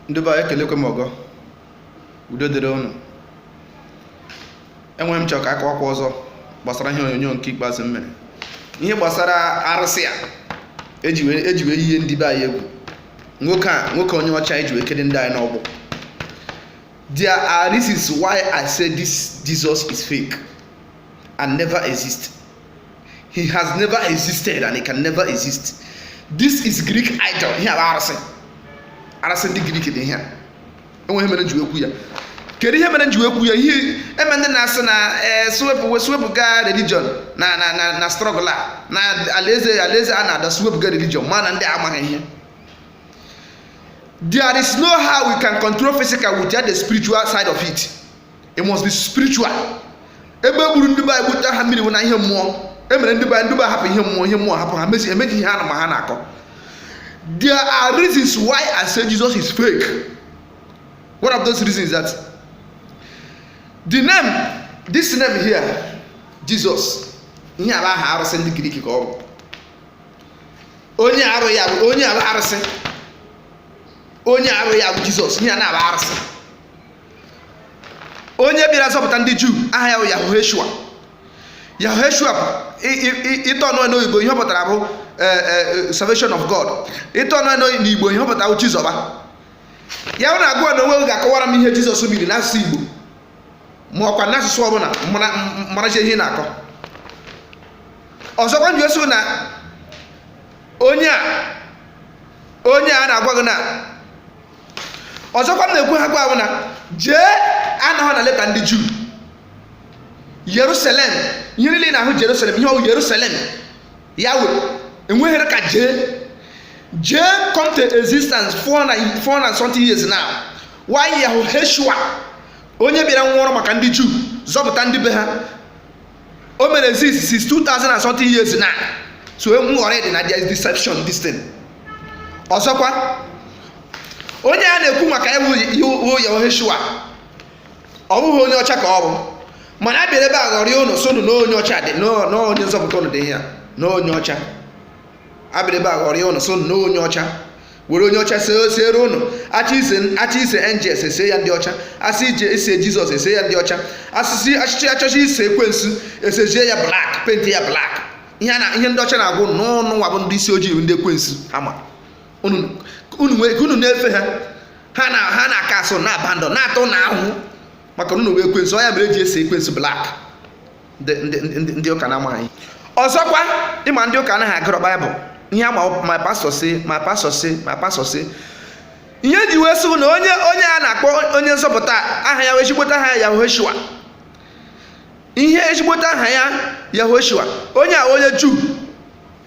ndị be anyị ekelekwe m ọgọ udo dịrị ụnụ enwere ihe m chọrọ ka akọwakwa ọzọ gbasara ihe onyonyo nke ikpeazụ m mere ihe gbasara arụsị a eji wee eji wee yie ndị be anyị egwu nwoke a nwoke onye ọcha eji wee kede ndị anyị n'agbụ there are reasons why i say this jesus is fake and never exist he has never existed and he can never exist this is greek idol ihe a bụ arụsị arụsị ndị greek dị ihe a enwere ihe mere m ji wee kwu ya kedu ihe mere m ji wee ekwu ya ihe eme ndị na-asị na eh, sị wepụ sị wepụga religion na na na na struggle a na alaeze alaeze a na-ada sị wepụga religion mana ndị amaghị ihe there is no how we can control physical without the spiritual side of it it must be spiritual ebe e gburu ndị be anyị gbute ha mmiri bụ na ihe mmụọ e mere ndị be anyị ndị be hapụ ihe mmụọ ihe mmụọ hapụ ha mezi amaghị ihe ha na ma ha na-akọ there are reasons why I say Jesus is fake one of those reasons is that the name this name here Jesus ihe a bụ aha arụsị ndị Grik ka ọ bụ onye aha ya bụ onye a bụ arụsị onye aha ya bụ Jizọs ihe a na-abụ arụsị onye bịara zọpụta ndị juu aha ya bụ yahoshua yahoshua itinye n'oyibo ihe ọ pụtara bụ e, e, salvation of god itinye n'igbo ihe ọ pụtara bụ chizọba ya bụ na agụọ na onwe ga-akọwara m ihe jizọs miri n'asụsụ igbo ma ọkwa n'asụsụ ọbụla maracha ihe m na-akọ ọzọkwa m ji asị na onye a onye a na-agwa gị na ọzọkwa m na-ekwu ha wụ na J anọghị na leta ndị juu yerusalem ihe niile na-ahụ jerusalem ihe ọ wụ yerusalem ya wee enweghịrị ka J J come to existence 400 something years now while yahoshua onye bịara nwụọrọ maka ndị juu zọpụta ndị be ha o mere exist since 2000 and something years now so enwe nghọrị dị na there is deception this thing ọzọkwa onye a na-ekwu maka ya wụ Yehoshua ọ bụghị onye ọcha ka ọ bụ mana abịara ebe a ghọrịa ụnụ sị ụnụ na onye ọcha dị na onye nzọpụta ụnụ dị ya na onye ọcha abịara ebe a ghọrịa ụnụ sị ụnụ na onye ọcha were onye ọcha seere ụnụ achọ ise angels ese ya ndị ọcha asị ije ise jizọs ese ya ndị ọcha asịsị achịchị achọcha ise ekwensu esezie ya blak penti ya blak ihe ndị ọcha na-agwa ụnụ na ụnụ nwa bụ ndị isi ojii ndị ekwensu ha ma unu na-efe ha ha na-aka asụ na abandọ na-ata unu ahụhụ maka na unu wụ ekwensu ọ ya mere eji ese ekwensu blak ndị ndị ndị ndị ụka na-amaghị ọzọkwa ịma ndị ụka anaghị agụrọ baịbụl ihe ha ma my pastor say my pastor say my pastor say ihe ji wee sị bụ na onye onye a na-akpọ onye nzọpụta aha ya ezigbote aha ya yahoshua ihe ezigbote aha ya yahoshua onye a wụ onye juu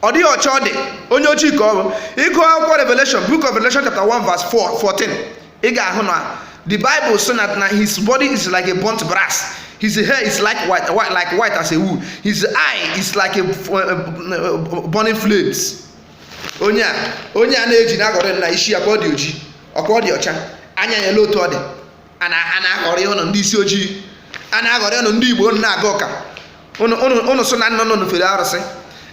ọ dịghị ọcha ọ dị onye ojii ka ọ bụ ị gụọ akwụkwọ revelation book of revelation chapter 1 verse 4 14 ị ga-ahụ na the bible sị na na his body is like a burnt brass his hair is like white, white like white as a wool his eye is like a uh, burning flames onye a onye a na-eji na-aghọrị ụnụ isi ya ka ọ dị oji ọ ka ọ dị ọcha anya ya olee otu ọ dị a na-aghọrị ụnụ ndị isi ojii a na-aghọrị ụnụ ndị igbo ụnụ na-aga ụka ụnụ sị na nna ụnụ fere arụsị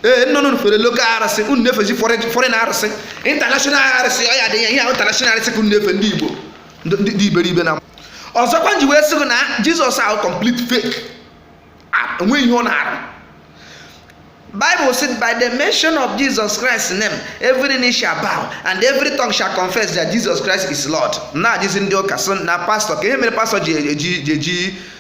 ee nna ụnụ fere local arụsị ụnụ na-efezi foreign arụsị international arụsị ọ ya dị ya ihe ahụ international arụsị ka ụnụ na-efe ndị igbo ndị iberibe na ọzọkwa m ji wee sị gị na jizọs a wụ complete fake enweghị ihe ọ na-arụ Bible said, by the mention of Jesus Christ's name, every knee shall bow and every tongue shall confess that Jesus Christ is Lord. Na-ajụzi ndị ụka sị na pastọ kee ihe mere pastọ ji eji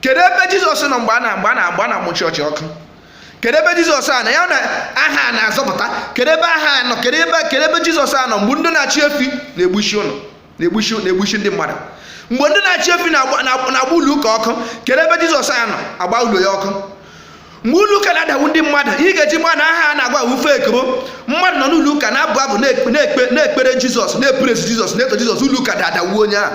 kedu ebe jizọs nọ mgbe a na mgbe a na mgbe a na-amụ chọọchị ọkụ kedu ebe jizọs a na ya na aha a na-azọpụta kedu ebe aha a nọ kedu ebe kedu ebe jizọs a nọ mgbe ndị na-achị efi na-egbusi ụnụ na-egbusi na-egbusi ndị mmadụ mgbe ndị na-achị efi na-agba na- na-agba ụlọ ụka ọkụ kedu ebe jizọs a nọ agba ụlọ ya ọkụ mgbe ụlọ ụka na-adagbu ndị mmadụ ihe ị ga-eji mata aha a na-agwa wụ fake bụ mmadụ nọ n'ụlọ ụka na-abụ abụ na-ekpe- na-ekpe- na-ekpere jizọs na-epresi jizọs na-eto jizọs ụlọ ụka daa dagbuo onye ahụ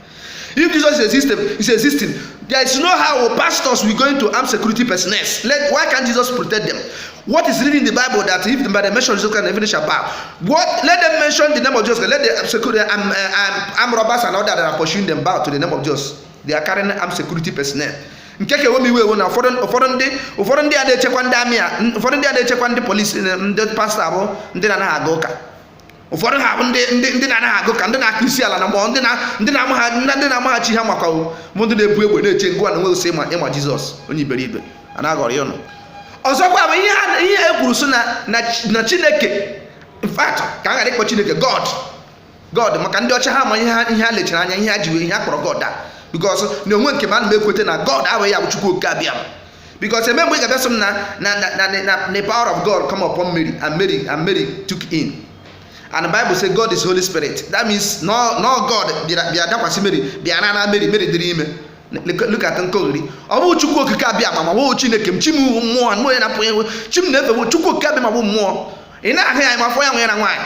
If Jesus is existing, is existing, there is no how pastors will going to arm security personnel. Let why can't Jesus protect them? What is written in the Bible that if by the mention of Jesus Christ, every knee shall bow? What? Let them mention the name of Jesus. Let the security um, uh, um, armed robbers and all that that are pursuing them bow to the name of Jesus. They are carrying armed security personnel. nke ka ewe m iwe wụ na ụfọdụ ụfọdụ ndị ụfọdụ ndị a na-echekwa ndị army a ụfọdụ ndị a na-echekwa ndị police ndị pastọ a bụ ndị na-anaghị aga ụka ụfọdụ ha bụ ndị na-anaghị aga ụka ndị na-akụ isi ala na mmụọ ndị na-amaghachi ihe maka bụ ndị na-ebu egbe na-eche gịwa nwa sị ị ma jizọs onye iberibe a na-aghọrị ụnụ ọzọkwa bụ ihe e kwuru sị na chineke in fact ka a ghara ịkpọ chineke god god maka ndị ọcha ha ma ihe ha lechara anya ihe ha ji wee ihe ha kpọrọ god a because na onwe nke m ana m ekweta na god abụghị ya bụ chukwu oke abịama because eme mgbe ị ga-abịa sị m na na na na na the power of God come upon Mary and Mary and Mary took in and Bible say God is Holy Spirit that means na ọ na ọ God bịara bịa dakwasị Mary bịa na na Mary Mary dịrị ime look at nkọgheri ọ bụghị Chukwu okike abịama ma ọ bụghị Chineke m chi m mmụọ mmụọ ya na-apụ chi m na-efe Chukwu okike abịama bụ mmụọ ị na-ahụ ya ma fọ ya nwere na nwaanyị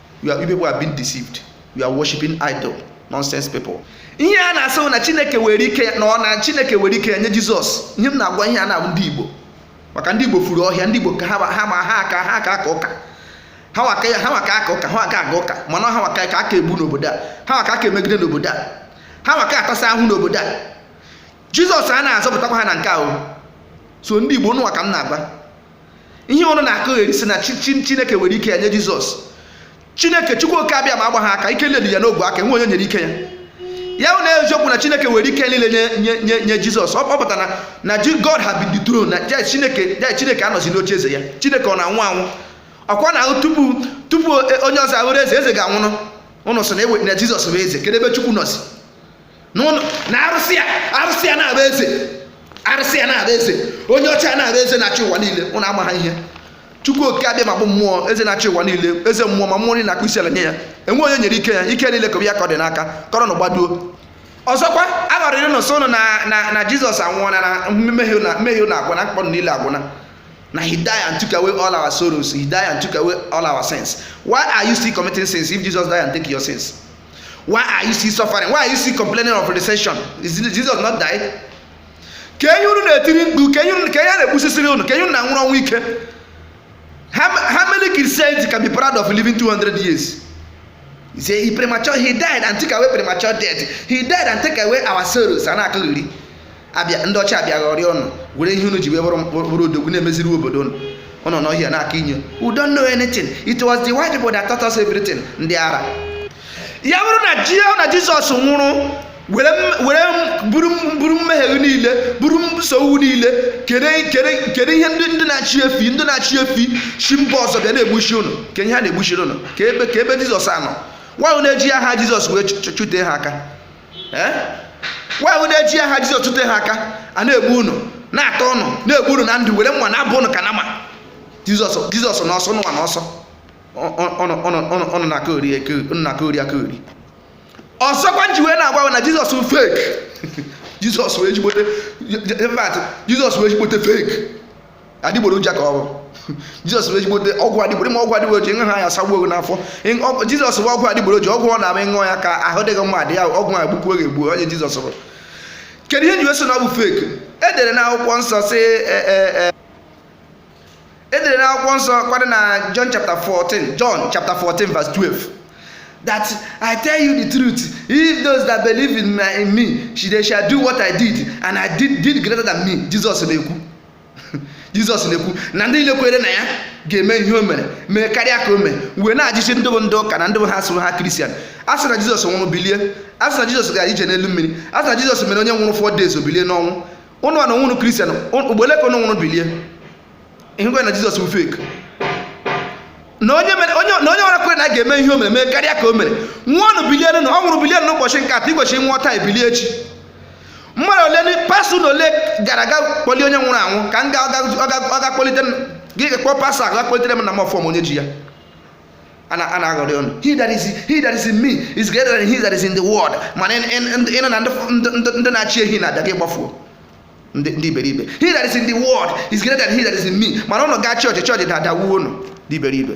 you are people are being deceived you are worshiping idol nonsense people ihe a na-asị na chineke were ike na ọ na chineke were ike nye jizọs ihe m na-agwa ihe a na-abụ ndị igbo maka ndị igbo furu ọhịa ndị igbo ka ha ma ha aka ha aka aka ụka ha wa ka ya ha wa ka aka ụka ha wa ka aga ụka mana ha wa ka a ka egbu n'obodo a ha wa ka a ka emegide n'obodo a ha wa ka atasa ahụ n'obodo a jizọs a na-azọpụtakwa ha na nke ahụ so ndị igbo nụnwa ka m na-agwa ihe unu na-akọgheri sị na chineke were ike ya nye jizọs chineke chukwu oke abịama agbaghị aka ike niile dị ya n'ogwe aka enwe onye nyere ike ya ya bụ na eziokwu na chineke were ike niile nye nye jizọs ọ pụtara na god had been dethroned na chineke chineke anọzi n'oche eze ya chineke ọ na-anwụ anwụ ọkwa na ahụ tupu tupu onye ọzọ abụrụ eze eze ga-anwụrụ ụnụ sị na ewe na jizọs bụ eze kedu ebe chukwu nọzi na arụsị ya arụsị ya na-abụ eze arụsị ya na-abụ eze onye ọcha ya na-abụ eze na-achị ụwa niile ụnụ amaha ihe chukwu oke abịama bụ mmụọ eze na-achị ụwa niile eze mmụọ ma mmụọ niile na-akpụ isi ala nye ya enwe onye nyere ike ya ike niile ka ya ka ọ dị n'aka kọrọ na gbaduo ọzọkwa a ghọrịrị ụnụ sị ụnụ na jizọs anwụọla na mmehie ụnụ agwụna mkpa niile agwụna na he die and took away all our sorrows he die and took away all our sins why are you still committing sins if jesus die and take your sins why are you still suffering why are you still complaining of recession is jesus not died ka enye unu na-etiri mkpu ka enye ka enye na-egbusisiri unu ka enye unu na-anwụrụ ọnwụ ike how many christians can be proud of living 200 years he say he premature he died and take away premature death he died and take away our sorrows a na-akọgheri abịa ndị ọcha abịa ghọrịa ụnụ were ihe unu ji wee bụrụ bụrụ odogwu na-emeziri obodo ụnụ ụnụ nọ ọhịa na-aka inyo we don't know anything it was the white people that taught us everything ndị ara ya bụrụ na ji na jizọs nwụrụ were m- were m- buru m- buru mmehie gị niile buru m nsogbu niile kere kere kere ihe ndị ndị na-achị efi ndị na-achị efi shi mba ọzọ bịa na-egbushi ụnụ ka ihe ha na-egbushiri ụnụ ka ebe ka ebe jizọs a nọ nwaanyị na-eji aha jizọs wee chụ- chụ- chụtee ha aka wee wụ na-eji aha jizọs chụte ha aka a na-egbu unu na-atọ ụnụ na-egbu unu na ndụ were mma na-abọ ụnụ ka nama jizọs jizọs n'ọsọ nụwa n'ọsọ unu na-akọgheri akọgheri ọzọkwa m ji wee na-agwa na jizọs bụ fake jizọs wụ ezigbote jizọs wụ ezigbote fake adịgboroja ka ọ bụ jizọs bụ ezigbote ọgwụ adịgboro ma ọgwụ adịgboroja ịṅụ ha ya sagbuo gị n'afọ Ịṅụ- ọgwụ- jizọs bụ ọgwụ adịgboroja ọgwụ ọ na-ama ị ṅụọ ya ka ahụ dị gị mma adị ya ọgwụ a egbukwuo gị egbuo onye jizọs bụ kedu ihe m ji wee sị na ọ bụ fake e dere na akwụkwọ nsọ sị e, e, e, e dere na akwụkwọ nsọ kwadị na john chapter 14 john chapter 14 verse 12 that i tell you the truth if those that believe in, my, in me she, they shall do what i did and i did, did greater than me jesus na-ekwu jizọs na-ekwu na ndị niile kwere na ya ga-eme ihe o mere mee karịa ka o mere wee na-ajụzi ndị bụ ndị ụka na ndị bụ ha sụrụ ha kristian a sị na jizọs nwụrụ bilie a sị na jizọs gara ije n'elu mmiri a sị na jizọs mere onye nwụrụ four days o bilie n'ọnwụ ụnụ a na nwụrụ kristian ugbo ole ka ụnụ nwụrụ bilie ihekwe na jizọs bụ fake na onye nwere kwere na ya ga-eme ihe o mere mee karịa ka o mere nwụọnụ bilie ọ nwụrụ bilie n'ụbọchị nke atọ igbochi nwụọ taa ebilie echi mmadụ ole pastọ na ole gara ga kpọlie onye nwụrụ anwụ ka m ga ọ ga kpọlite m gị kpọọ pastọ ahụ ga kpọlitere m nna m ọfọm onye ji ya a na a na-aghọri ụnụ he that is he that is in me is greater than he that is in the world mana ị nụ na ndị na-achị ehi na-abịa gị gbafuo ndị iberibe he that is in the world is greater than he that is in me mana ụnụ gaa chọọchị chọọchị daa dagbuo ụnụ ndị iberibe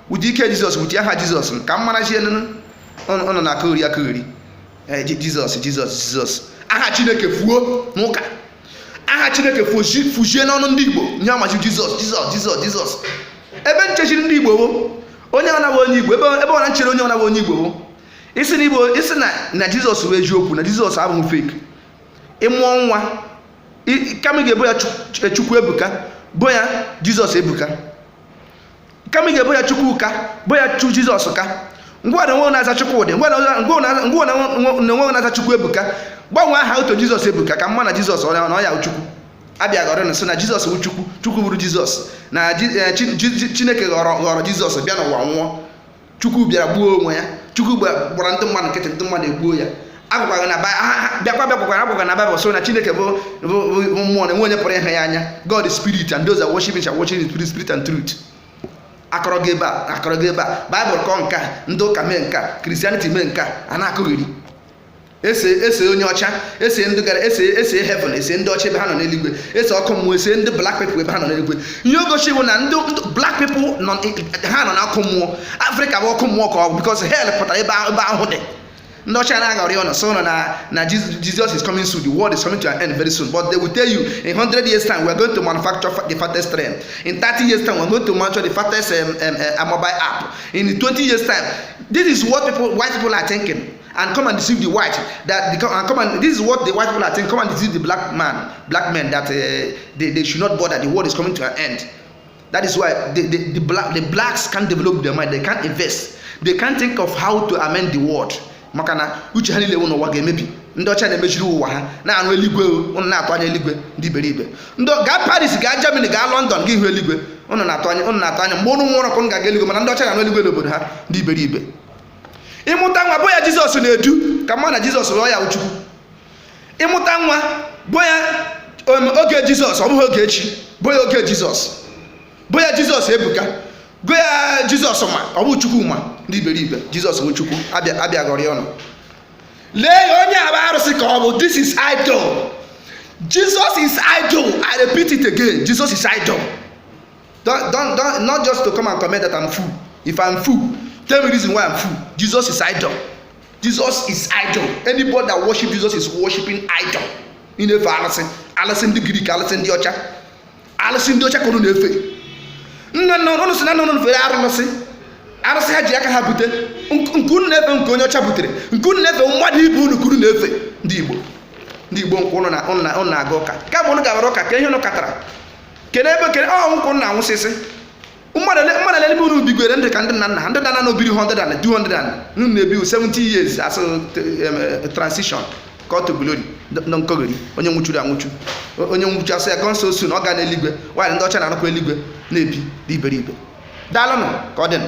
ụdị ike jizọs ụdị aha jizọs ka m marazienụ ụnụ na-akọgheri akọgheri Eh, Ji- jizọs jizọs jizọs aha chineke fuo n'ụka aha chineke fuzi- fuzie n'ọnụ ndị igbo ihe a mazi jizọs jizọs jizọs jizọs ebe nchechiri ndị igbo bụ onye ọnawa onye igbo ebe ebe ọna nchere onye ọnawa onye igbo bụ ị sị na igbo ị sị na na jizọs bụ eziokwu na jizọs abụghị fake ị mụọ nwa i- kama ị ga-ebo ya Chuk- chukwu ebuka bo ya jizọs ebuka kama ị ga-ebo ya chukwuka bo ya chu jizọs ka ngwanụ onye na-aza chukwudị ngwanụ onye na-aza chukwu ebuka gbanwee aha ahụ to jizọs ebuka ka m ma na jizọs ọ na ọ ya wụ chukwu a bịa ghọri ụnụ sị na jizọs bụ chukwu chukwu bụrụ jizọs na chineke ghọrọ ghọrọ jizọs bịa n'ụwa nwụọ chukwu bịara gbuo onwe ya chukwu gbara ndị mmadụ nkịtị ndị mmadụ egbuo ya agwagwaghị na bịakwa bịakwakwara agwagwa na baịbụl sị na chineke bụ mmụọ na enwe onye pụrụ ịhụ ya anya god is spirit and those that worship him shall worship in spirit spirit and truth a kọọrọ gị ebe a a kọọrọ gị ebe a baịbụl kọọ nke a ndị ụka mee nke a kristianity mee nke a a na-akọgheri e see e see onye ọcha e see ndị gara e see e see heaven e see ndị ọcha ebe ha nọ n'eluigwe e see ọkụ mmụọ e see ndị black people ebe ha nọ n'eluigwe ihe o gosiri bụ na ndị ndị black people nọ ha nọ n'ọkụ mmụọ afrịka bụ ọkụ mmụọ ka ọ bụ because hell pụtara ebe ahụ- ebe ahụhụ dị ndị ọcha na-aghọri ụnụ sị ụnụ na na Jesus Jesus is coming soon the world is coming to an end very soon but they will tell you in 100 years time we are going to manufacture fa- the fastest train in 30 years time we are going to manufacture the fastest um, um, uh, mobile app in 20 years time this is what people white people are thinking and come and deceive the white that the, and come and this is what the white people are saying come and deceive the black man black men that uh, they, they should not bother the world is coming to an end that is why the, the, the, black, the blacks can't develop their mind they can't invest they can't think of how to amend the world maka na uche ha niile wụ na ụwa ga-emebi ndị ọcha na-emeziri ụwa ha na-arụ eluigwe ụnụ na-atụ anya eluigwe ndị iberibe gị gaa paris gaa germany gaa london gị hụ eluigwe ụnụ na-atụ anya ụnụ na-atụ anya mgbe ụnụ nwụrụ ka ụnụ ga-aga eluigwe mana ndị ọcha na-arụ eluigwe n'obodo ha ndị iberibe ị mụta nwa bụ ya jizọs na-edu ka m ma na jizọs bụ ya bụ chukwu ị mụta nwa bụ ya um, oge jizọs ọ bụghị ogechi bụ ya oge jizọs bụ ya jizọs ebuka bụ ya jizọs ma ọ bụ chukwuma ndị iberibe jizọs bụ chukwu a bịa a bịa ghọrịa ọnụ lee ya onye a bụ arụsị ka ọ bụ this is idol jesus is idol i repeat it again jesus is idol Don't, don't, don't, not just to come and comment that I'm fool. If I'm fool, tell me reason why I'm fool. Jesus is idol. Jesus is idol. Anybody that worship Jesus is worshiping idol. Ị na-efe alụsị, alụsị ndị Grik, alụsị ndị ọcha, alụsị ndị ọcha ka unu na-efe. Nna nna unu si na nna unu fere arụsị, arụsị ha ji aka ha bute, nke unu na-efe nke onye ọcha butere, nke unu na-efe mmadụ ibe unu ka unu na-efe ndị Igbo. Ndị Igbo ọ kwa unu na-aga ụka. Kama unu gabara ụka kee ihe unu ketara kene ebe kene ọ kwa unu na-anwụsịsị mmadụ ole n'ime unu bigwere ndụ ka ndị nna nna ha ndị nna nna unu biri 100 and 200 and unu na-ebi 70 years a sị transition call to glory ndị nkọgheri onye nwụchuru anwụchu onye nwụchu a sị ya gone so soon ọ ga n'eluigwe while ndị ọcha na-arụkwa eluigwe na-ebi ndị iberibe daalụnụ ka ọ dịnụ